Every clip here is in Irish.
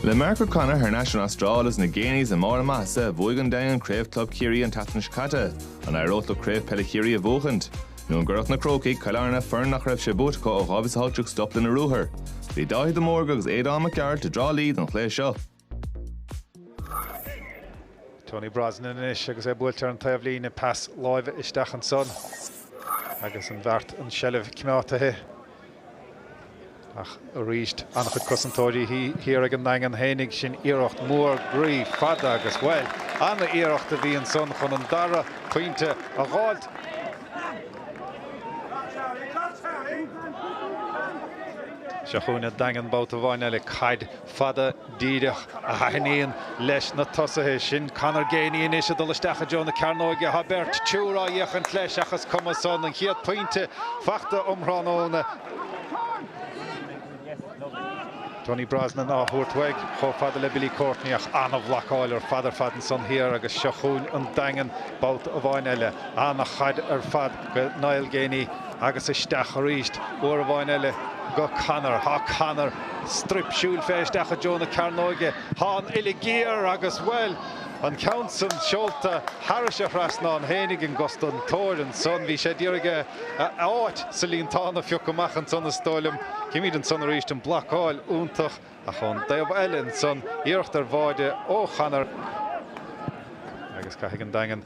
Le Mark O'Connor thar n-ais ón Astráil is na Geaneys i mbarr a maitheasa bhuaigh an Daingean Craobh Club Chiarraí an tseachtain seo caite, an éireodh leo Craobh Peile Chiarraí a bhuachaint? Nó an gcuirfeadh na Crócaigh Cill Airne foireann nach raibh sé buaite acu ó 2018 stop lena ruathar? Bhí Dáithí de Mórdha agus Aodán Mac Gearailt i dTrá Lí don chluiche seo. Tony Brosnan anois agus é buailte ar an taobhlíne, pas láimhe isteach ansan agus an-bheart an seilbh coimeádta ach arís an-chuid cosantóirí thiar ag an nDaingean fhéinig. Sin iarracht mór groí fada agus, bhuel, an-iarracht a bhí ansan chun an dara pointe a dh'fháilt. Seo chugainn an Daingean babhta amháin eile, caid. fada díreach a thaitníonn leis na tosaithe. Sin Conor Geaney anois ag dul isteach i dtreo na cearnóige. Tá beirt triúr á dh'fhéachaint leis ach is cuma san. An chéad phointe faighte um thráthnóna. Tony Brosnan á thabhairt uaidh chomh fada le Billy Courtney ach an-bhlocáil ar fad ar fad ansan thiar agus seo chugainn an Daingean babhta amháin eile. An-chaid ar fad go Niall Geaney. Agus isteach arís, uair amháin eile, go Conor. Tá Conor struip siúil fé isteach i dtreo na cearnóige. Tá an uille géar agus, bhuel, an ceann san seolta thairis an trasnán fhéinig agus don turn san. Bhí sé a d'iarraidh áit sa líontán a phiocadh amach ansan, is dóigh liom. Címid ansan arís an blocáil iontach. Ach ón dtaobh eile ansan, iarracht ar bháide ó Chonor agus caithfidh an Daingean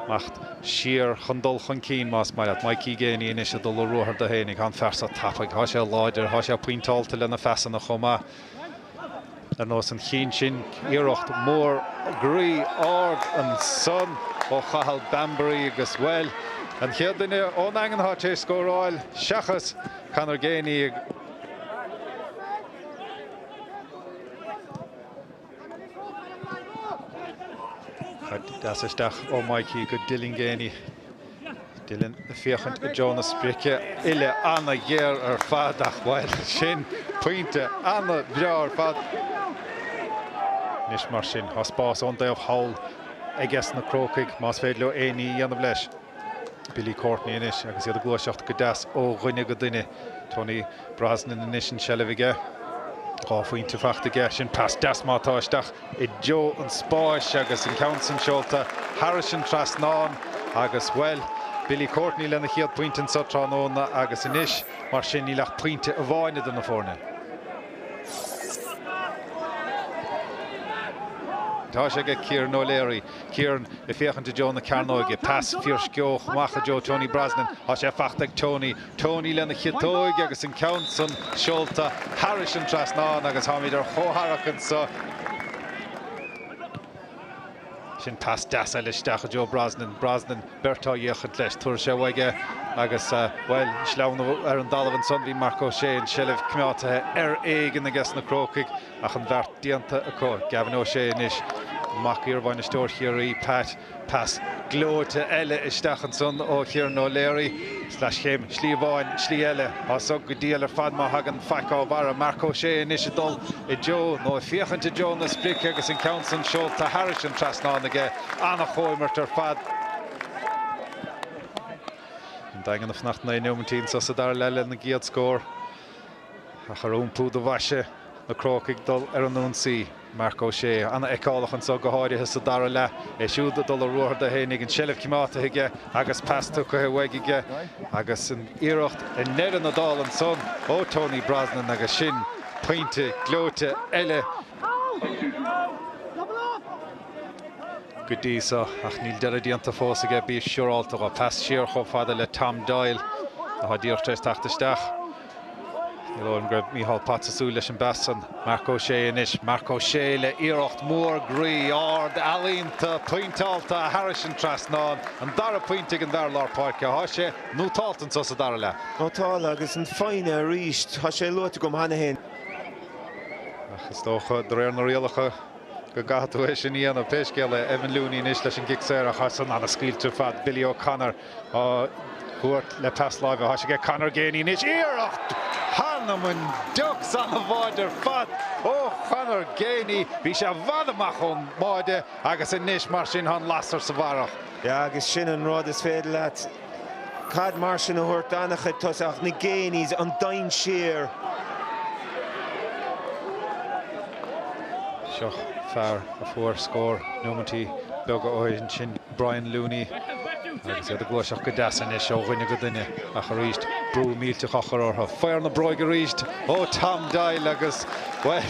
imeacht siar chun dul chun cinn más maith leat. Mikey Geaney anois ag dul ar ruathar dó fhéinig. Tá an fear seo tapaidh. Tá sé láidir. Tá sé pointeálta lena phasanna chomh maith. Ar nós an chinn sin, iarracht mór groí ard ansan ó Chathal Bambury agus, bhuel, an chéad duine ón Daingean atá tar éis scóráil seachas Conor Geaney. Deas isteach ó Mikey go Dylan Geaney. Dylan ag féachaint i dtreo na sprice. Uille an-ghéar ar fad ach bhuel, sin pointe an-bhreá ar fad. Anois mar sin, tá spás ón dtaobh thall aiges na Crócaigh más féidir leo aon ní a dhéanamh leis. Billy Courtney anois agus iad ag gluaiseacht go deas ó dhuine go duine. Tony Brosnan anois an seilbh aige. Dhá phointe faighte aige. Sin pas deas meáite isteach i dtreo an spáis agus an ceann san seolta thairis an trasnán agus, bhuel, Billy Courtney lena chéad phointe anseo tráthnóna agus anois, mar sin, níl ach pointe amháin idir na foirne. Tá sé aige Kieran O'Leary. Ciarán ag féachaint i dtreo na cearnóige. Pas fiarsceabhach amach i dtreo Tony Brosnan. Tá sé faighte ag Tony. Tony lena chiotóig agus an ceann san seolta thairis an trasnán agus táimid ar chomhtharrac anseo. Sin pas deas eile isteach i dtreo Brosnan. Brosnan, beirt á fhéachaint leis. Tabharfaidh sé uaidh é agus, bhuel, sleamhnú ar an dtalamh ansan. Bhí Marc Ó Sé an tseilbh coimeádtaithe ar éigean aiges na Crócaigh. Ach an bheart déanta acu. Gavin O'Shea anois, mac iarbhainisteoir Chiarraí, Pat. Pas gleoite eile isteach ansan ó Kieran O'Leary. Sleaschéim, slí amháin, slí eile. Tá so go diail ar fad má thagann faic dá bharra. Marc Ó Sé anois ag dul i dtreo, nó ag féachaint i dtreo, na sprice agus an ceann san seolta thairis an trasnán aige. An-chomhimirt ar fad. An Daingean ag fanacht naoi nóimintí ins sa dara leath lena gcéad scór. Ach ar iompú do bhaise, na Crócaigh ag dul ar an ionsaí. Marc Ó Sé an-fheiceálach anseo, go háirithe sa dara leath. É siúd ag dul a ruathar do Shéighnigh, an tseilbh coimeádtaithe aige agus pas tugtha uaidh aige. Agus an iarracht i ndeireadh na dála anseo ó Tony Brosnan agus sin pointe gleoite eile. Go dtí seo, ach níl deireadh déanta fós aige, bí siúráilte dhe. Pas siar chomh fada le Tom Doyle, atá díreach tar éis teacht isteach. Ní dóigh liom go raibh Micheál Potts ag súil leis an bpas san. Marc Ó Sé anois. Marc Ó Sé le iarracht mór groí, ard, ealaíonta, pointeálta a thairis an trasnán. An dara pointe ag an dara lár páirce. Thá sé nótáilte anso sa dara leath. Nótáilte agus an foighne arís. Thá sé luaite agam cheana fhéin. Ach is dócha, de réir na rialacha, go gcaithfidh tú é sin a dhéanamh. Pé scéal é, Evan Looney anois leis an gcic saor an chosaint an-scaoilte ar fad, Billy O'Connor. á thabhairt le pas láimhe. Thá sé ag Conor Geaney anois. Iarracht th'anam 'on diucs, an-bháide ar fad ó Chonor Geaney. Bhí sé i bhfad amach ón mbáide agus anois, mar sin, tá an lasair sa bharrach. Agus sin an rud, is féidir leat caid mar sin a thabhairt dona chuid tosaithe ach na Geaneys, an dainséar! Seo fear a fuair scór nóimintí beaga ó shin. Brian Looney agus iad ag gluaiseacht go deas anois ó dhuine go duine ach arís brú millteach á chur orthu. Faobhar na bróige arís ó Tom Doyle agus, bhuel,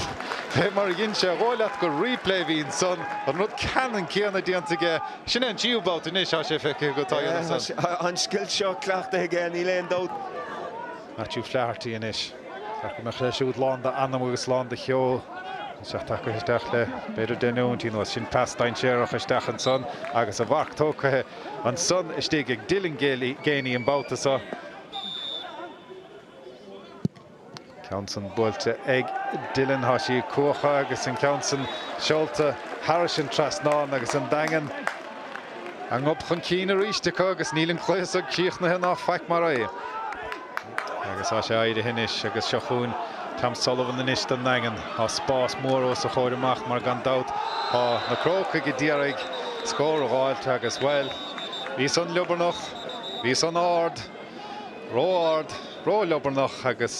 fé mar a dhein sé, ba dhóigh leat gur replay a bhí ansan, an rud ceannann céanna déanta aige. Sin é an tríú babhta anois, tá sé feicthe agat, tá a fhios agat. Tá an scil seo cleachtaithe aige, níl aon dabht. Matthew Flaherty anois. Ceart go mbeadh sé siúd lán d'anam agus lán de cheol. Agus é tagaithe isteach le b'fhéidir deich nóimintí anuas. Sin pas dainséarach isteach ansan agus a mharc tógtha ansan istigh ag Dylan Geaney an babhta seo. Ceann san buailte ag Dylan, tá sí cuacha agus an ceann san seolta thairis an trasnán agus an Daingean. a ngob chun cinn arís acu agus níl an cluiche so críochnaithe ná faic mar é agus tá sé éirithe anois agus seo chugainn Tom Sullivan anois don nDaingean. Tá spás mór os a chomhair amach mar gan dabht tá na Crócaigh a d'iarraidh scór a dh'fháilt agus, bhuel, bhí san liobarnach, bhí san ard, ró-ard, ró-liobarnach agus.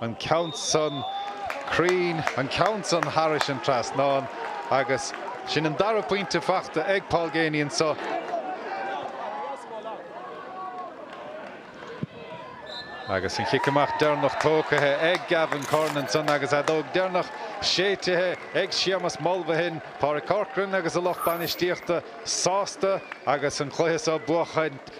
an ceann san cruinn, an ceann san thairis an trasnán agus sin an dara pointe fachta ag Paul Geaney anso. Agus an chic amach deireanach tógtha ag Gavin Curran ansan agus an fheadóg deireanach séitithe ag Séamus Mulvihill, Pádraig Corcoran agus a lucht bainistíochta sásta agus an cluiche so buachaint.